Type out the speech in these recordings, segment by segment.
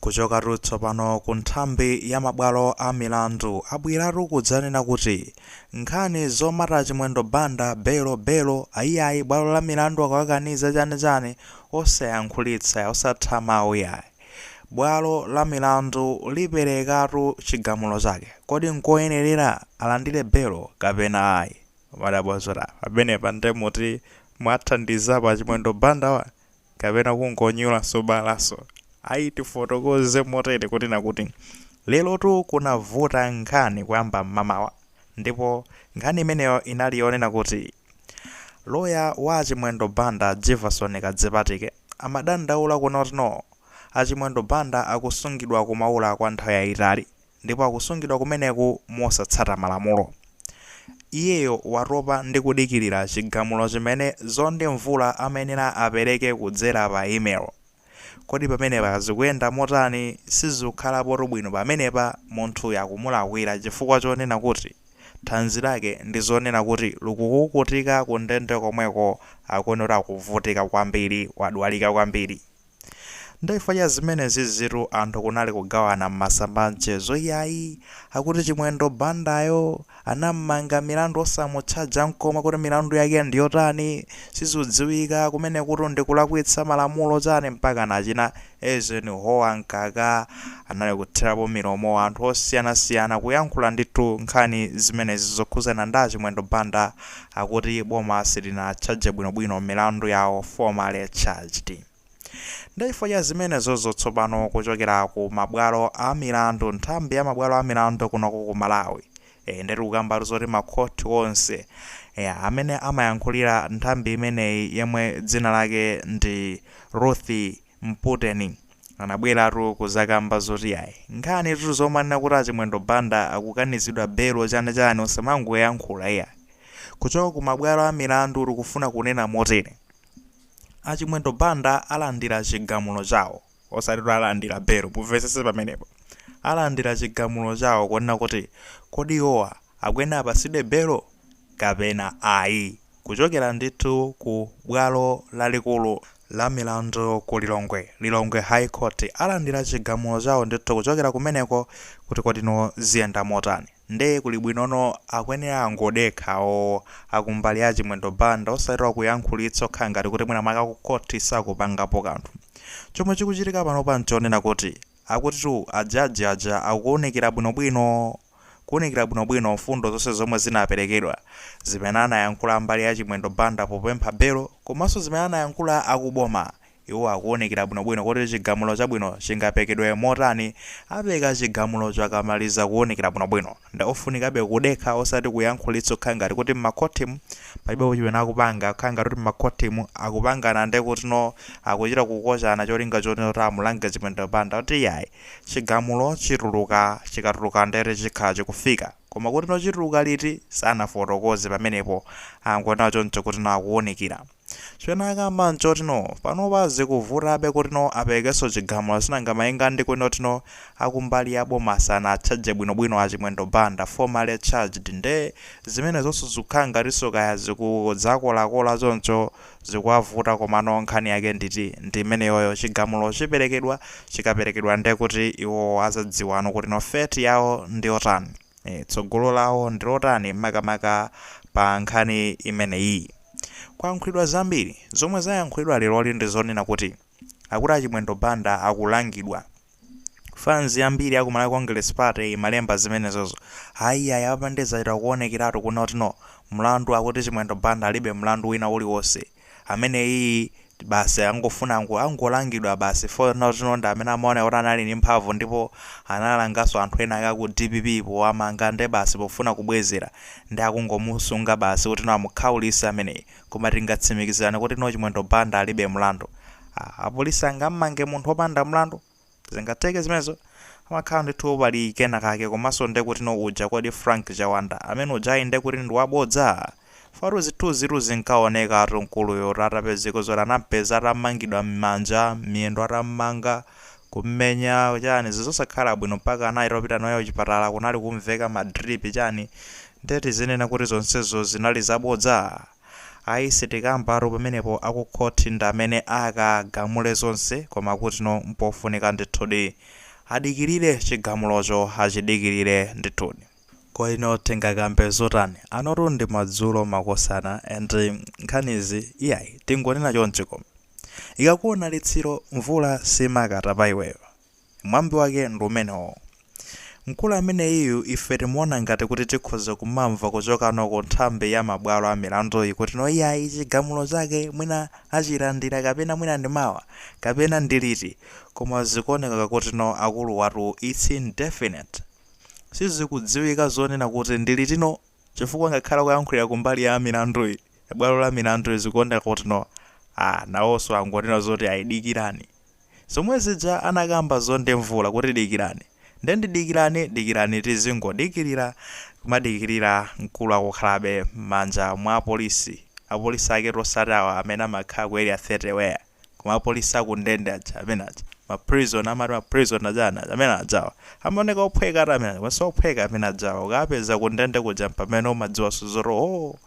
Kuchokatu tsopano ku nthambi ya mabwalo a milandu, abweratu kudzanena kuti nkhani zomata Chimwendo Banda belo belo, ayiayi bwalo la milandu akawakaniza chani chani, osayankhulitsa, osatha mawu yayi. Bwalo la milandu liperekatu chigamulo chake. Kodi nkoyenerera alandire belo kapena ayi? Mwadabwa zodabwa pamenepa nde kuti mwathandizapo a Chimwendo Banda wa? kapena kungonyulanso balanso ayi tifotokoze motere kuti na kuti lerotu kunavuta nkhani kuyamba m'mamawa ndipo nkhani imeneyo inali yonena kuti loya wa achimwendo banda Jefferson Kadzipatike amadandaula kuno kutino achimwendo banda akusungidwa ku Maula kwa nthawi yayitali ndipo akusungidwa kumeneku mosatsata malamulo. Iyeyo watopa ndi kudikirira chigamulo chimene Zondi Mvula amayenera apereke kudzera pa email. Kodi pamenepa zikuyenda motani? Sizikhalapotu bwino pamenepa, munthuyu akumulakwira chifukwa chonena kuti thanzi lake ndi zonena kuti likukukutika kundende komweko akuona kuti akuvutika kwambiri, wadwalika kwambiri. Nde chifukwa cha zimenezizitu anthu kunali kugawana m'masamba a mchezo kuti ayi akuti Chimwendo Bandayo anam'manga milandu osamutchaja nkomwe, kuti milandu yake ndiyotani sizudziwika kumenekutu ndikulakwitsa malamulo chani mpaka nachina Eisenhower Mkaka anali kuthirapo milomo anthu osiyanasiyana kuyankhula ndithu nkhani zimenezi zokhuzana nda Chimwendo Banda akuti boma silinatchaje bwino bwino milandu yawo formally charged nde chifukwa cha zimenezozo tsopano kuchokera ku mabwalo a milandu nthambi ya mabwalo a milandu kunoko ku Malawi ee nde tikukambatu zoti ma court onse ee amene amayankhulira nthambi imeneyi yemwe dzina lake ndi Ruth Mputeni anabweratu kuzakamba zoti ayi nkhanitu zomanena kuti achimwendo Banda akukanizidwa belo chani chani osamangoyankhula iyayi kuchoka kumabwalo amilandu tikufuna kunena motere achimwendo Banda alandira chigamulo chawo osati alandira belo mumvetsetse pamenepo alandira chigamulo chawo kunena kuti kodi iwowa akuyenera apasidwe belo kapena ayi. Kuchokera ndithu ku bwalo lalikulu la milandu ku Lilongwe, Lilongwe High Court, alandira chigamulo chawo ndithu kuchokera kumeneko kuti kodino ziyenda motani. Nde kuli bwinono akuyenera angodekhawo akumbali ya Chimwendo Banda osati kuyankhulitsa okhala ngati kuti mwina mwake aku court sakupangapo kanthu. Chomwe chikuchitika panopa nchonena kuti akutitu a judge aja akuwunikira bwinobwino kuunikira bwinobwino mfundo zonse zomwe zinaperekedwa, zimene anayankhula mbali ya Chimwendo Banda popempha belo komanso zimene anayankhula akuboma. Iwo akuunikira bwinobwino kuti chigamulo chabwino chingaperekedwe motani. Apereka chigamulocho akamaliza kuunikira bwinobwino. Nde ofunikabe kudekha osati kuyankhulitsa kukhala ngati kuti mmakhothimu palibepo chimene akupanga, kukhala ngati kuti mmakhothimu akupangana nde kutino akuchita kukochana cholinga chotino amulange Chimwendo Banda. Kuti iyayi. Chigamulo chituluka chikatuluka ndere chikhala chikufika koma kutino chituluka liti sanafotokoze pamenepo angonena choncho kutino akuunikira. Chimene akamba nchotino panopa zikuvutabe kutino aperekenso chigamulo sinanga malinga ndi kunena kutino akumbali ya boma sanatchaje bwinobwino a Chimwendo Banda formally charged nde zimenezo zonse zikukhala ngatinso kaya zikudzakolakola choncho zikuwavuta komano nkhani yake nditi ndi imeneyoyo chigamulo chiperekedwa chikaperekedwa nde kuti iwowo azadziwano kuti no fate yawo ndiyotani ee tsogolo lawo ndilotani makamaka pa nkhani imeneyii kwayankhulidwa zambiri zomwe zayankhulidwa leroli ndizonena kuti Akuti a Chimwendo Banda akulangidwa. Fans yambiri ya ku Malawi Congress Party imalemba zimenezozo. Ayi ayi apa nde zachita kuonekeratu kunoti no. Mlandu akuti Chimwendo Banda alibe mlandu wina uliwonse. Ameneyiyi basi angofuna ango, angolangidwa basi foti no ndi amene amaona kuti anali ndi mphamvu ndipo analanganso anthu ena ake a ku dpp powamanga nde basi pofuna kubwezera nde akungomusunga basi kuti no amukhaulitse ameneyi. Koma tingatsimikizirane kuti no Chimwendo Banda alibe mlandu? Aaa apolisi angammange munthu wopanda mlandu? Zingatheke zimenezo? Pamakhala ndithu pali kena kake komanso ndekuti no uja kodi Frank Chawanda amene ujayi ndekuti ndi wabodza? Chifukwa-tu zithunzi-tu zinkaoneka-tu mkuluyo-tu atapezeka zoti anampeza atamangidwa mmanja, mmiyendo atammanga, Kummenya chani zinthu zosakhala bwino mpaka anaitopita naye kuchipatala kunali kumveka ma drip chani nde tizinena kuti zonsezo zinali zabodza? Ayi sitikambatu pamenepo akukhoti ndamene akagamule zonse koma kutino mpofunika ndithudi adikirire chigamulocho achidikirire ndithudi. Koma ino tingakambe zotani? Anotu ndi madzulo makosana and nkhanizi iyayi tingonena chonchi koma. Ikakuona litsiro, mvula simakata pa iweyo. Mwambi wake ndi umenewo. Mkulu ameneyiyu ife timuona ngati kuti tikhoza kumamva kuchokano ku nthambi ya mabwalo a milanduyi kuti no iyayi chigamulo chake mwina achilandira kapena mwina ndi mawa kapena ndi liti koma zikuoneka kuti no akuluwatu it's indefinite. Sizikudziwika zonena kuti ndi litino chifukwa ngakhale akuyankhulira kumbali ya milanduyi. bwalo la milandu zikuoneka kutino aah nawoso angonena zoti ayi dikirani zomwe zija anakamba zo nde mvula kuti dikirani nde ndi dikirani dikirani tizingodikilira kumadikilira mkulu akukhalabe mmanja mwa apolisi apolisi aketu osati awa amene amakhala ku area 30 where koma apolisi aku ndende aja amene aja ma prison amati ma prison ajana amene ajawa amaoneka ophweka ati amene aja ophweka amene ajawa ukapeza ku ndende kuja mpamene umadziwa suzoro oh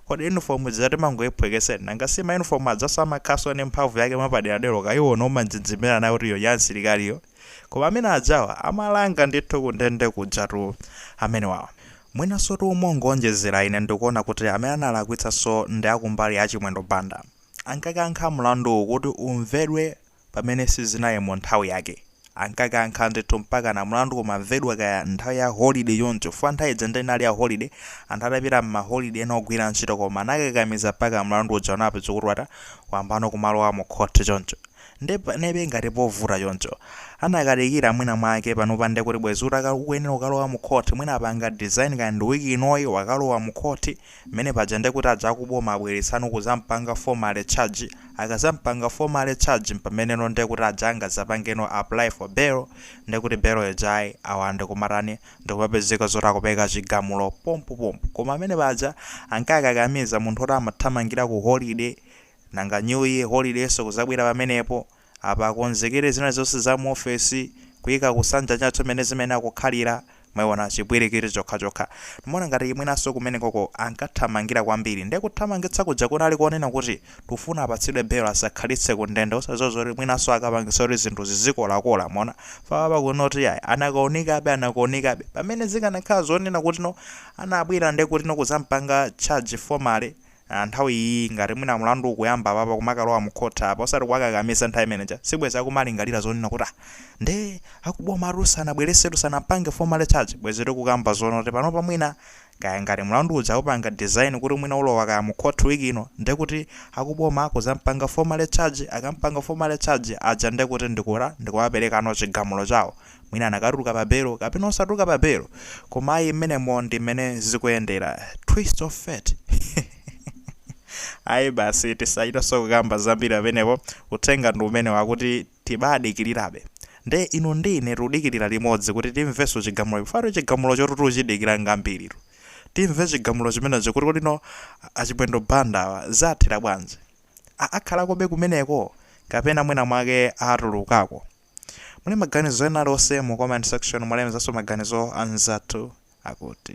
kodi uniform zati mangoiphwekeseni nanga si ma uniform ajaso amakhaso ni mphamvu yake mwapaderadera ukaiona umanjenjemera nayo kuti iyo ya msilikaliyo koma amene ajawa amalanga ndithu ku ndende kujatu amene wawa mwinasotu mongoonjezera ine ndikuona kuti amene analakwitsaso ndi akumbali ya chimwendo banda ankakankha mlanduwu kuti umvedwe pamene sizinali mu nthawi yake. Ankakankha ndithu mpakana mlandu kumamvedwa kaya nthawi ya holiday choncho. Chifukwa nthawi ija ndiye inali ya holiday, anthu atapita m'maholiday ena ogwira ntchito koma anakakamiza mpaka mlandu uja unapeza kuti wata wayambano kumalowa mu khoti choncho. Ndiye panebe ngati povuta choncho. Anakadikira mwina mwake panopa ndiye kuti bwezi utaka ukuyenera kukalowa mu khoti mwina apanga design kaya ndi week inoyi wakalowa mu khoti Mmene paja nde kuti aja akuboma abweretsano kuzampanga formally charge, akazampanga formally charge mpameneno nde kuti aja angazapangeno apply for bail nde kuti bail ija ayi awa nde kumatani ndikumapezeka zoti akupeka chigamulo pompo pompo koma amene paja ankakakamiza munthu oti amathamangira ku holiday nanga new year holidayso kuzabwera pamenepo Apa akonzekere zina zonse za mu office, kuika kusanja chathu mmene zimayenera kukhalira, mwaiona, chipwirikiti chokhachokha. Ndimaona ngati mwinanso kumenekoko ankathamangira kwambiri. Ndiye kuthamangitsa kuja kunali konena kuti tikufuna apatsidwe bail asakhalitse ku ndende, osadziwa zoti mwinanso akapangitsa kuti zinthu zizikolakola, mwaona. Fukwa apa kunoti iyayi, anakanikabe, anakanikabe. Pamene zikanakhala zonena kutino anabwera ndiye kutino kudzamupanga charge formally, a nthawi iyiyi ngati mwina mlandu ukuyamba apapa kumakalowa mu court apa osati kuwakakamiza nthawi imene ija sibwezi akumalingalira zonena kuti ah nde akubomatu sanabweresetu sanampange formally charge bwezi tikukamba zonena kuti panopa mwina kaya ngati mlandu uja awupanga design kuti mwina ulowa kaya mu court week ino ndekuti akuboma akuzampanga formally charge akampanga formally charge aja ndekuti ndikura ndikuwaperekano chigamulo chawo mwina anakatuluka pa bail kapena osatuluka pa bail koma ayi mmenemo ndi mmene zikuyendera twist of fate ayi basi tisachitanso kukamba zambiri pamenepo uthenga ndi umenewo akuti tibadikirirabe nde inu ndi ine tikudikirira limodzi kuti timvenso chigamulo chifukwa chigamulochotu tichidikira kwambiritu timve chigamulo chimenecho kuti kodi no achimwendo banda awa zathera bwanji A- akhalakobe kumeneko kapena mwina mwake atulukako Muli maganizo ena aliwonse mu comment section mulemezanso maganizo anzathu akuti.